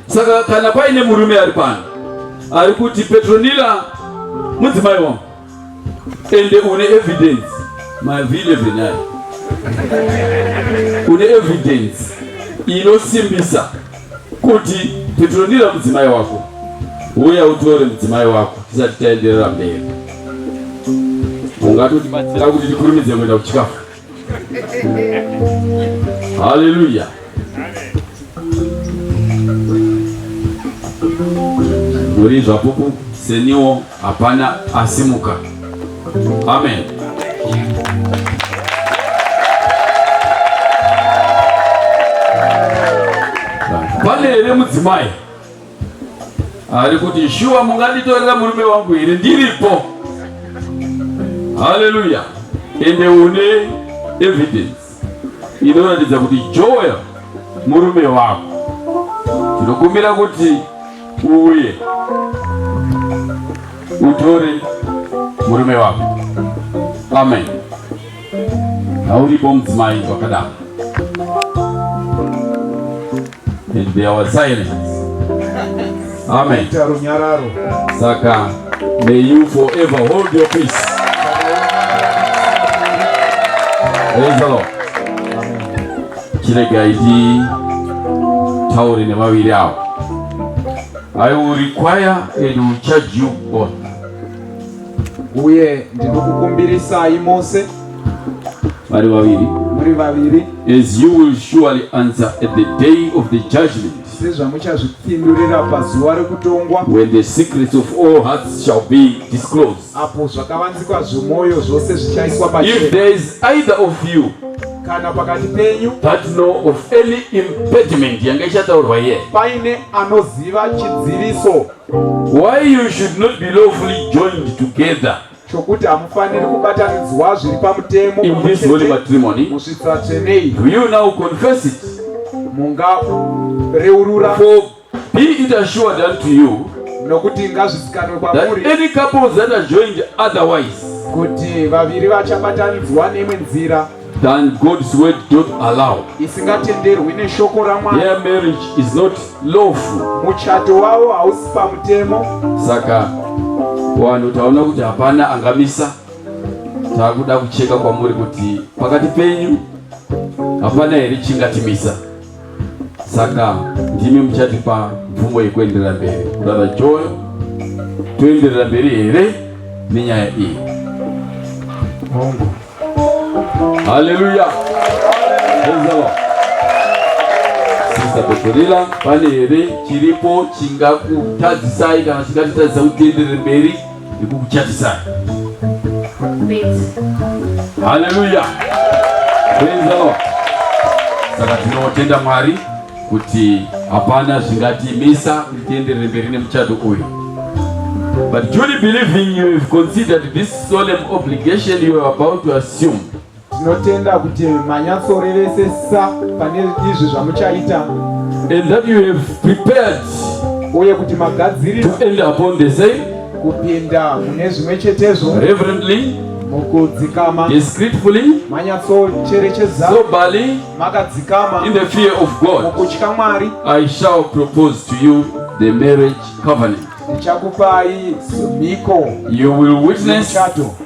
Saka kana paine murume ari pano ari kuti Petronila mudzimai wangu ende une evidence mavhile venai une evidence inosimbisa kuti Petronila mudzimai wako uya utore mudzimai wako tisati taenderera mberi ungatotibatsira kuti tikurumidze kuenda kuchikafu Haleluya. Muri zvapupu seniwo hapana asimuka. Amen. Pane here mudzimai? ari kuti shuwa munganditorera murume wangu here ndiripo haleluya ende une evidence inoratidza kuti joel murume wako tinokumbira kuti uuye utore murume wako amen hauripo mudzimai vakadaro and they were silent amen runyararo saka may you forever hold your peace praise the lord chiregai titaure nevaviri avo i will require and will charge you both uye ndinokukumbirisai mose vari vaviri muri vaviri as you will surely answer at the day of the judgment sezvamuchazvipindurira pazuva rekutongwa when the secrets of all hearts shall be disclosed apo zvakavanzikwa zvemwoyo zvose zvichaiswa pa if there is either of you kana pakati penyu that know of any impediment yanga ichataurwa here paine anoziva chidziviso Why you should not be lawfully joined together chokuti hamufaniri kubatanidzwa zviri pamutemo in this holy matrimony musvitsa tsvenei do you now confess it mungareurura for be it assured unto you nokuti ngazvizikanwe kwamuri any couples that are joined otherwise kuti vaviri vachabatanidzwa neimwe nzira than God's word don't allow. Isingatenderwi neshoko raMwari. Their marriage is not lawful. Muchato wavo hausi pamutemo. Saka wanhu taona kuti hapana angamisa. Takuda kucheka kwamuri kuti pakati penyu hapana here chingatimisa. Saka ndimi muchatipa mvumo yekuenderera mberi. Kudada Joyo, toenderera mberi here nenyaya iyi? Hongu. Haleluya. Sista Peperila, pane here chiripo chingakutadzisai kana chingatitadzisa kutenderera mberi nekukuchatisai? Haleluya. Praise the Lord. Saka tinotenda Mwari kuti hapana zvingatimisa kuti tienderere mberi nemuchato uyu but truly believing you have considered this solemn obligation you are about to assume tinotenda kuti manyatsorevesesa pane izvi zvamuchaita and that you have prepared uye kuti magadzirira to end upon the same kupinda mune zvimwe chetezvo reverently mukudzikama discreetfully manyatsocherechedza sobally makadzikama in the fear of God mukutya Mwari I shall propose to you the marriage covenant ndichakupai mhiko you will witness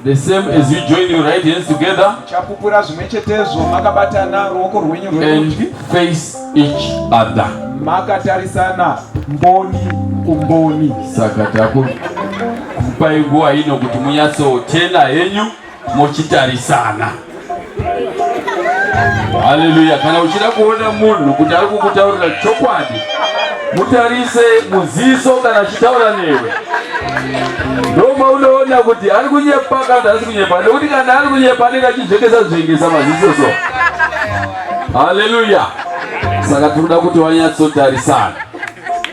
the same as you join your right hands together muchapupura zvimwe chetezvo makabatana ruoko rwenyu rwerudyi face each other makatarisana mboni kumboni saka takupai nguva ino kuti munyatsotenda henyu mochitarisana. Haleluya! Kana uchida kuona munhu kuti ari kukutaurira chokwadi, mutarise muziso kana achitaura newe ndoma unoona kuti ari kunyepa kana kuti asi kunyepa nekuti kana ari kunyepa anenge achizvengesa zvengesa maziso so haleluya saka tinoda kuti wanyatsotarisana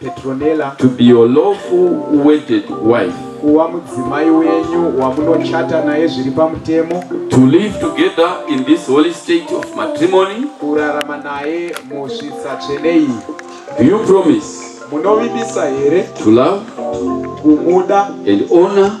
Petronella. To be your lawful wedded wife. Kuva mudzimai wenyu wamunochata naye zviri pamutemo. To live together in this holy state of matrimony. Kurarama naye musvitsa tsvene iyi. Do you promise? Munovimbisa here? To love. Kumuda. And honor.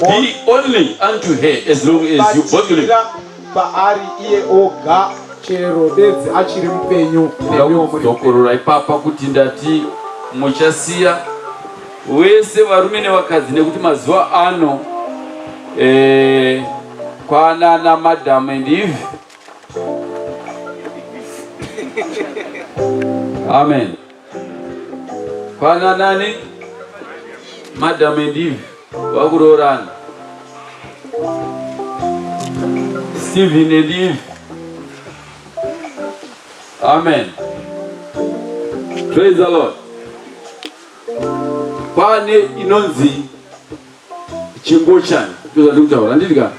Be only unto her as long as you both live. Paari iye oga chero bedzi achiri mupenyu ndokorora ipapa kuti ndati muchasiya wese varume nevakadzi nekuti mazuva ano eh, kwanana madam and eve amen Kwana nani? Madam and Eve vakuroorana. Stephen and Eve. Amen. Praise the Lord. Pane inonzi chingochani ndozvandiri kutaura handidika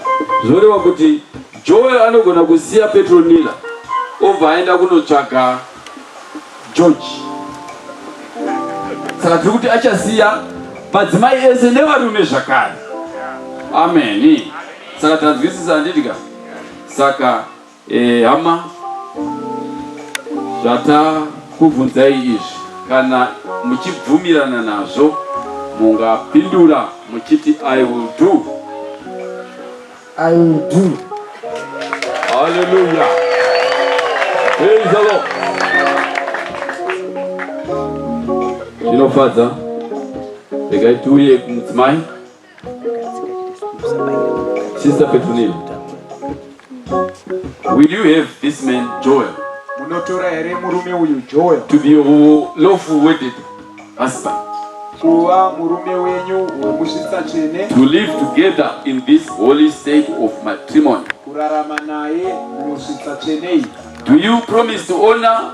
zvinoreva kuti joel anogona kusiya petronila obva aenda kunotsvaga george saka tiri kuti achasiya madzimai ese nevarume zvakare ameni saka tanzwisisa handidika saka Eh, hama zvatakubvunzai izvi kana muchibvumirana nazvo mungapindura muchiti i will do i will do hallelujah praise the lord zvinofadza regai tiuye kumudzimai Sister Petunia, will you have this man Joel? Munotora here murume uyu Joel? To be your lawful wedded husband. Kuva murume wenyu wemuzvitsa tsvene. To live together in this holy state of matrimony. Kurarama naye muzvitsa tsvene iyi. Do you promise to honor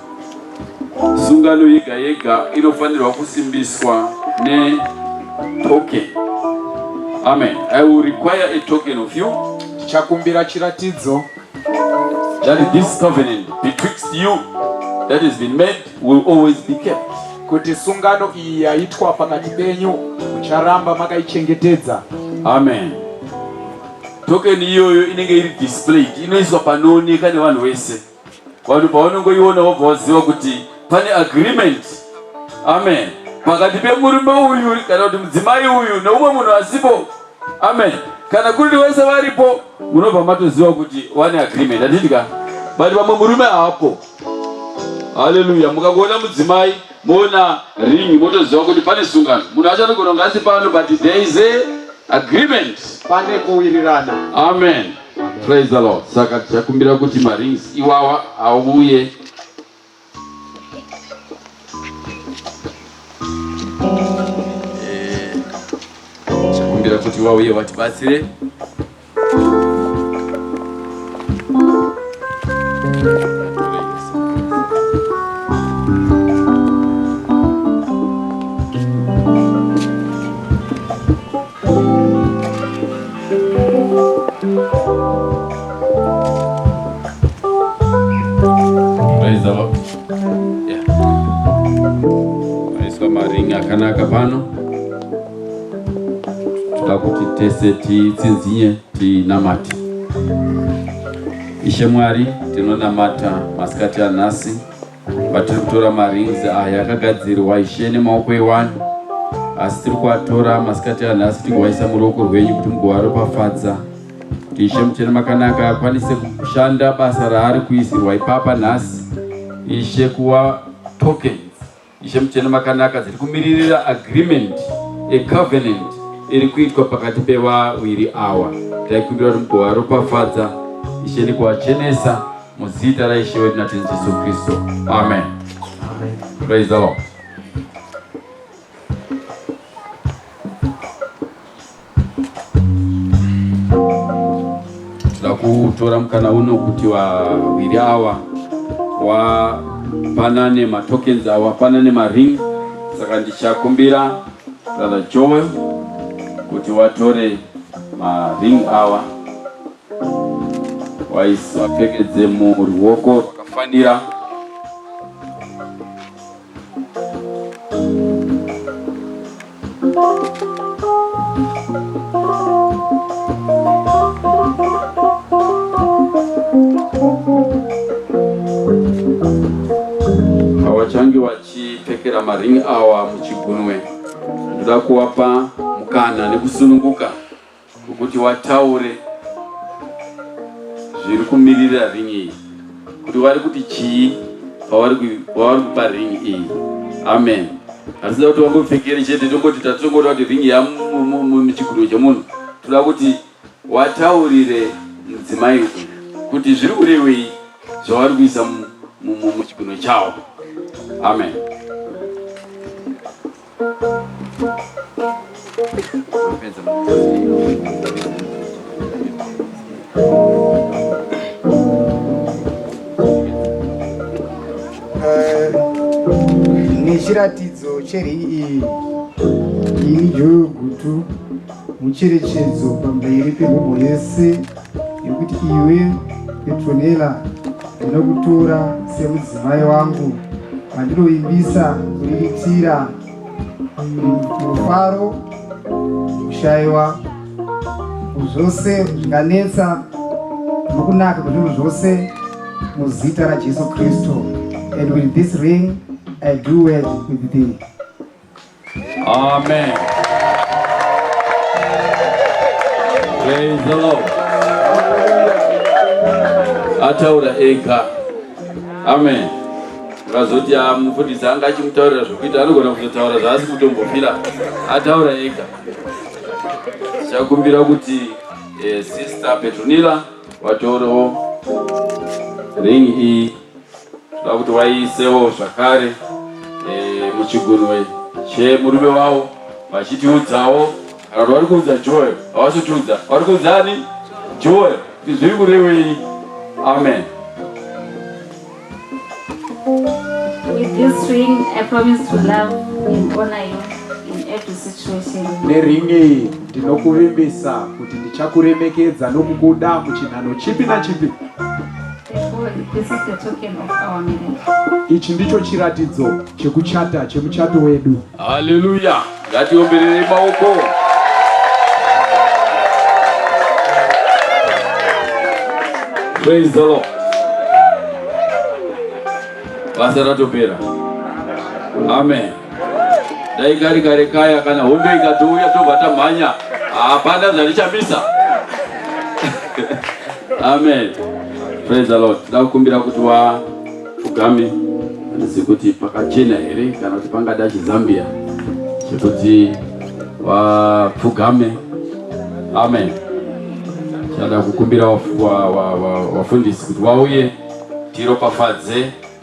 Sungano yega yega inofanirwa kusimbiswa ne token. Amen. I will require a token of you. Chakumbira chiratidzo. That is this covenant betwixt you that has been made will always be kept. Kuti sungano iyi yaitwa pakati penyu mucharamba makaichengetedza. Amen. Token iyoyo inenge iri displayed inoiswa panooneka nevanhu vese. vanhu pavanongoiona wobva waziva kuti pane agreement amen pakati pemurume uyu kana kuti mudzimai uyu neumwe munhu asipo amen kana kuri wese varipo munobva matoziva kuti wane agreement atidya but vamwe murume haapo haleluya mukangoona mudzimai moona ring motoziva kuti pane sungano munhu achanogona kunge asi pano but there is a agreement pane kuwirirana amen Praise the Lord. Saka tichakumbira kuti marings iwawa auye. Eh, tichakumbira kuti wauye watibatsire. Aiswa maringi akanaka pano toda kuti tese titsinzinye tinamate. Ishe Mwari, tinonamata masikati anhasi vatiri kutora marings aya akagadzirwa ishe nemaoko ewani asi tiri kuatora masikati anhasi tigowaisa muruoko rwenyu kuti mugovaropafadza kuti ishe muchene makanaka akwanise kushanda basa raari kuisirwa ipapa nhasi ishe kuva tokens ishe muchene makanaka dziri kumiririra agreement ecovenant iri kuitwa pakati pevawiri awa taikumbira kuti mugovaropafadza ishe nekuachenesa Muzita la Ishe wetu na Tenzi Yesu Kristo. Amen. Amen. Praise the Lord. Tida kutora mkana uno kuti wawiri awa wapanane matokens awa wapanane maring saka ndichakumbira brother Joel kuti watore maring awa waisa pfekedze muruoko rwakafanira hawachange vachipfekera maringi awa muchigunwe ndoda kuwapa mukana nekusununguka kuti wataure zviri kumiririra ringi iyi kuti wari kuti chii pavari kupa ringi iyi amen asida kuti wangopfekere chete tongoti tatongoda kuti ringi yamuchiguriro chemunhu toda kuti wataurire mudzimai uyu kuti zviri kurevei zvavari kuisa muchiguriro chavo amen Eh, nechiratidzo cheri iyi ini joyo gutu mucherechedzo pamberi pemhomho yese Yekuti iwe Petronella ndinokutora semudzimai wangu vandinovimbisa kuriritira mufaro kushaiwa zvose zvinganetsa nokunaka kwezvinhu zvose muzita rajesu kristu and with this ring i do wed with thee Amen. Praise the Lord. Ataura ega. Amen. Vazoti amufundisi anga achimutaurira zvokuita anogona kuzotaura zvaasi kutombofira. Ataura ega. Chakumbira kuti eh, sister Petronila vatorewo ring iyi Tinoda kuti waisewo zvakare eh, muchigunwe chemurume wavo vachitiudzawo kana kuti vari kuudza Joel havazotiudza vari kuudza ani Joel kuti zviri kurevei amen With this ring, I promise to love and honor you in every situation. neringi iyi ndinokuvimbisa kuti ndichakuremekedza nokukuda muchinhano chipi nachipi Ichi ndicho chiratidzo chekuchata chemuchato wedu. Haleluya! Ngatiombererei maoko. Praise the Lord. Basa ratopera. Amen. Dai kari kare kaya kana hondo ikatouya tobva tamhanya. Hapana zvatichamisa. Amen. Praise the Lord. Ndakukumbira kuti wa ugame handizi kuti pakachena here kana kuti pangada chizambia chekuti wapfugame. Amen. Chada kukumbira wafundisi kuti wauye tiropafadze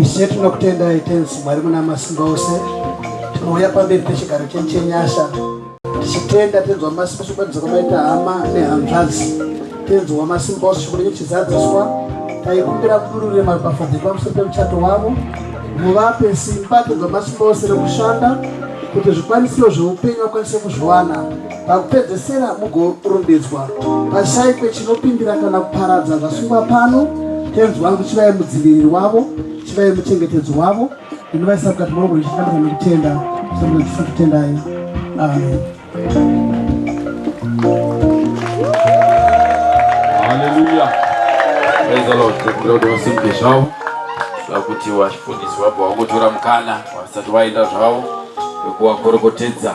Ishe tinokutendai tenzi Mwari muna masimba ose, tinouya pamberi pechigaro chenyu chenyasha tichitenda tenzi wamasimba sokubatidza kwamaita hama nehanzvadzi tenzi wamasimba ose chikuru chizadziswa taikumbira kudurure maropafadzo epamusoro pemuchato wavo muvape simba tenzi wamasimba ose rekushanda kuti zvikwanisiro zveupenyu vakwanise kuzviwana Pakupedzesera, mugorondedzwa pashaikwe chinopindira kana kuparadza zvasungwa pano. Tenzi wangu, chivai mudziviriri wavo, chivai muchengetedzi wavo, ndinovaisa mukati mwangu ndichitambudzwa nekutenda, ndichitambudzwa ndichisa kutendai. Amen. Hallelujah. Praise the Lord. Tekuda kuti vasimbe zvavo sakuti vachifundiswa bva vangotora mukana vasati vaenda zvavo vekuvakorokotedza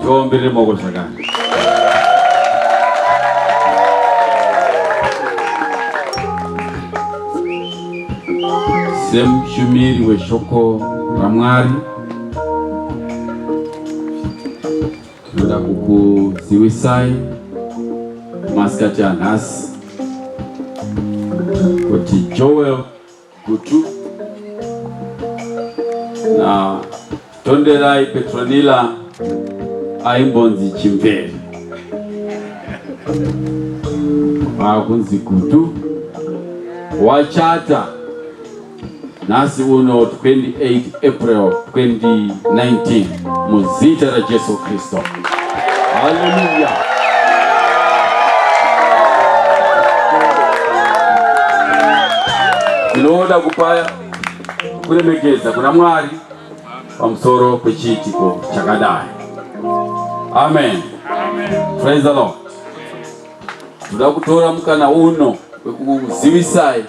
Tivaombere maoko zvakare. Semushumiri weshoko raMwari tinoda kukuzivisai masikati anhasi kuti Joel Gutu na Tonderai Petronila aimbonzi Chimvere vakunzi Gutu wachata nhasi uno 28 April 2019 muzita raJesu Kristu. Haleluya. Ndinoda kupaya kuremekedza kuna Mwari pamusoro pechiitiko chakadai. Amen. Amen. Praise the Lord. Ndoda kutora mukana uno wekukuzivisai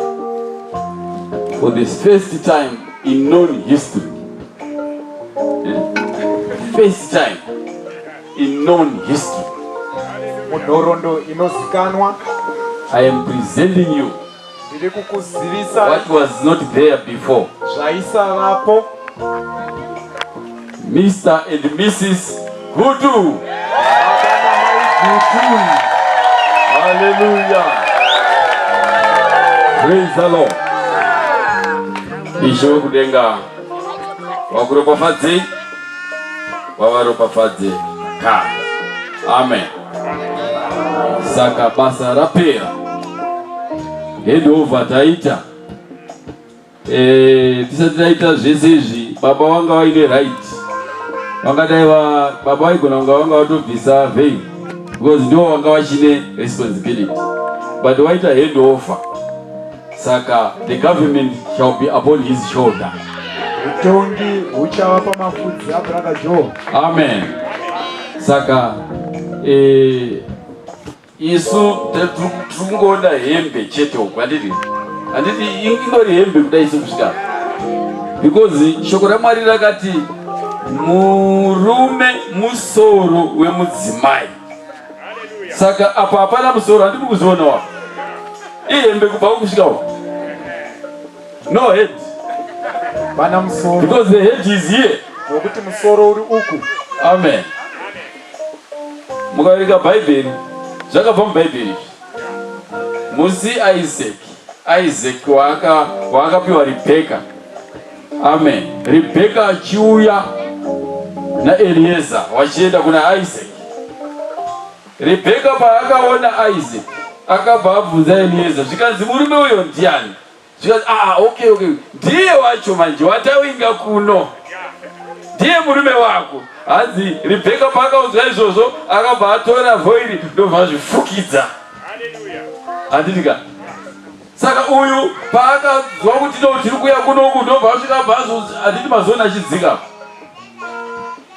for the first time in known history. First time in known history. Munhorondo inozikanwa. I am presenting you Ndiri kukuzivisa what was not there before. Zvaisavapo. Mr and Mrs Gutu. Hallelujah. Praise the Lord. Ishe wekudenga wakuropafadzei wavaropafadze ka. Amen. saka basa rapera handover taita eh, tisati taita zvese izvi baba vanga vaine right vangadai baba vaigona kunga vanga vatobvisa vein because ndivo vanga vachine responsibility but waita handover saka the government shall be upon his shoulder utongi huchava pamafudzi abrother joe amen saka eh, isu tikungoona hembe chete uku handiti handiti ingori hembe kudai isu kusvika because shoko ramwari rakati murume musoro wemudzimai saka apa hapana musoro handiri kuzvionawa ihembe kubva kukusvika uku no head pana musoro because the head is here nokuti musoro uri uku amen mukaverenga bhaibheri zvakabva mubhaibheri izvi musi isaac isaac waakapiwa rebheka Amen. Rebeka achiuya naElieza vachienda kuna Isaac. Rebeka paakaona Isaac akabva abvunza Elieza zvikanzi murume uyo ndiani? Zvikanzi ah, okay, okay. Ndiye wacho manje watawinga kuno ndiye murume wako. Hanzi Rebeka paakaudzwa izvozvo akabva atora vhoiri ndobva azvifukidza. Haleluya. Handitika. Saka uyu paakazwa kuti no tiri kuya kunoku ndobva asvika bhazi handiti mazoni achidzika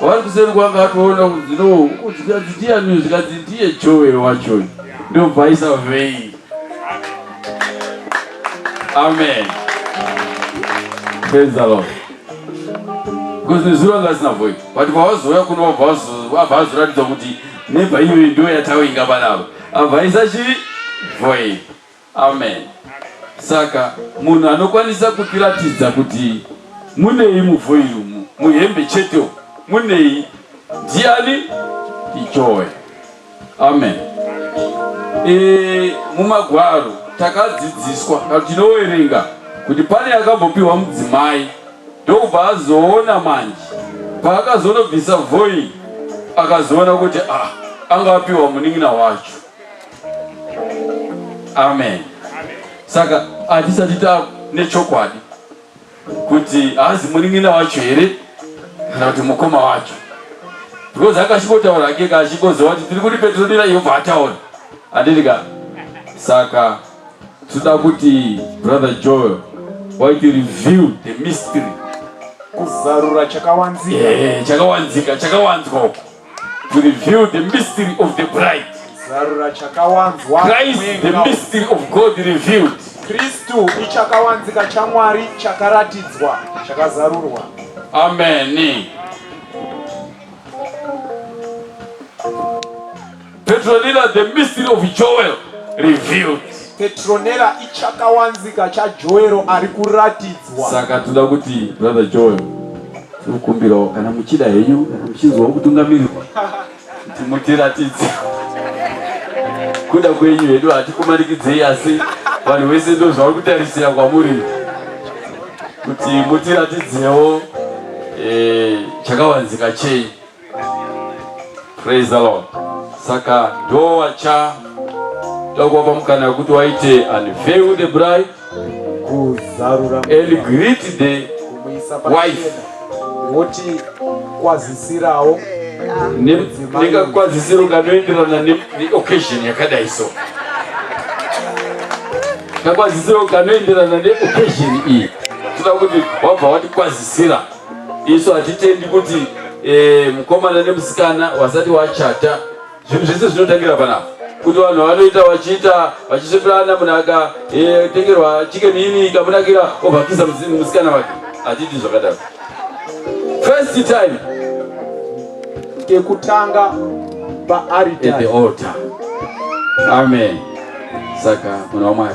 vari kuseri kwanga atoona kunzi no zvikanzi ndiyani zvikanzi ndiye joe wacho ndobva aisa vei amen praise the lord because nezuro anga asina voi but pavazouya kuno abva azoratidza kuti nebva iyoyi ndo yatainga panavo abva aisa chii voi Amen. Saka munhu anokwanisa kutiratidza kuti munei muvhoiri umu muhembe chete munei ndiani ichoe amen e, mumagwaro takadzidziswa kana tinowerenga kuti pane akambopiwa mudzimai ndokubva azoona manje paakazonobvisa voi akazoona kuti ah, anga apiwa munin'ina wacho amen saka hatisati ta nechokwadi kuti haazi munin'ina wacho here kana kuti mukoma wacho because akasvikotaura ake kaasvikoziva kuti tiri kuti petronira yobva ataura handiti ka saka tinoda kuti brother joel why to reveal the mystery kuzarura chakawanzika eh, chakawanzika chakawanzwa uko to reveal the mystery of the bride. Zarura chakawanzwa Christ, the mystery of God revealed. Kristu ichakawanzika chaMwari chakaratidzwa chakazarurwa. Amen. Petronella the mystery of Joel revealed. Petronella ichakawanzika chaJoel ari kuratidzwa. Saka toda kuti brother Joel tinokumbirawo kana muchida henyu muchinzwawo kutungamirirwa kuti mutiratidze kuda kwenyu hedu hatikumanikidzei asi vanhu vese ndo zvauri kutarisira kwamuri kuti mutiratidzewo eh, chakawanzika chei Praise the Lord. Saka ndowacha takuwapa mukana wekuti waite unveil the bride kuzarura and greet the wife woti kwazisirawo ndingakwazisiro kanoenderana neoccasion yakadai so kakwazisiro kanoenderana neoccasion iyi toda kuti wabva watikwazisira isu hatitendi kuti e, mukomana nemusikana wasati wachata zvinhu zvese zvinotangira panapa kuti vanhu vanoita vachiita vachisveperana munhu akatengerwa e, chicken ini ikamunakira ovhakisa musikana wake hatidi zvakadaro first time kekutanga paarita amen saka munhu wamwari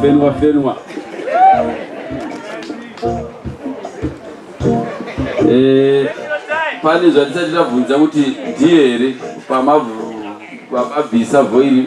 Fenwa, Fenwa. Eh, pane zvatisati tabvunza kuti ndiye here pamabvisa vhoiri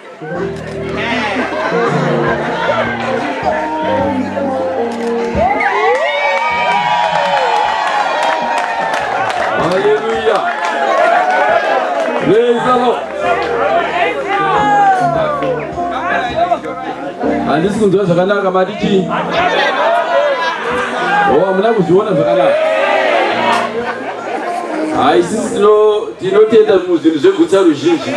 handisi kunzwa zvakanaka mati chii o oh, hamuna kuzviona zvakanaka haisisi tino Tinotenda muzvinhu zvegutsa ruzhinji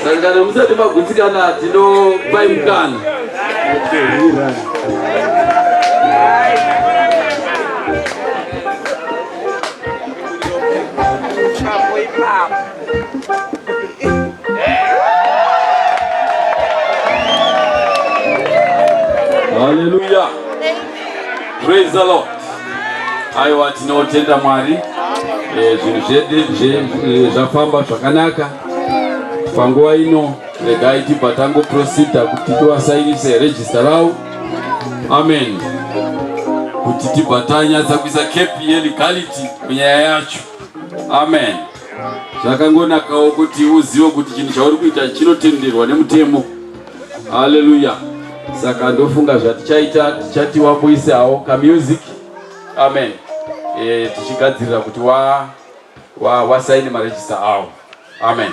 sangano musati magutsikana tinopai mukana Hallelujah. Praise the Lord. Aiwa tinotenda Mwari. Eh, zvinhu zvedu eh, zvafamba zvakanaka. Panguva ino regai tibva tangoprosida kuti tivasainise regista ravo. Amen. Kuti tibva tanyatsa kuisa kepi yelegality munyaya yacho. Amen. Zvakangonakawo kuti uzive kuti chinhu chauri kuita chinotenderwa nemutemo. Hallelujah. Saka ndofunga zvatichaita tichati wamboisawo ka music. Amen. Eh tichigadzirira kuti wa wa wa sign ma register awo. Amen.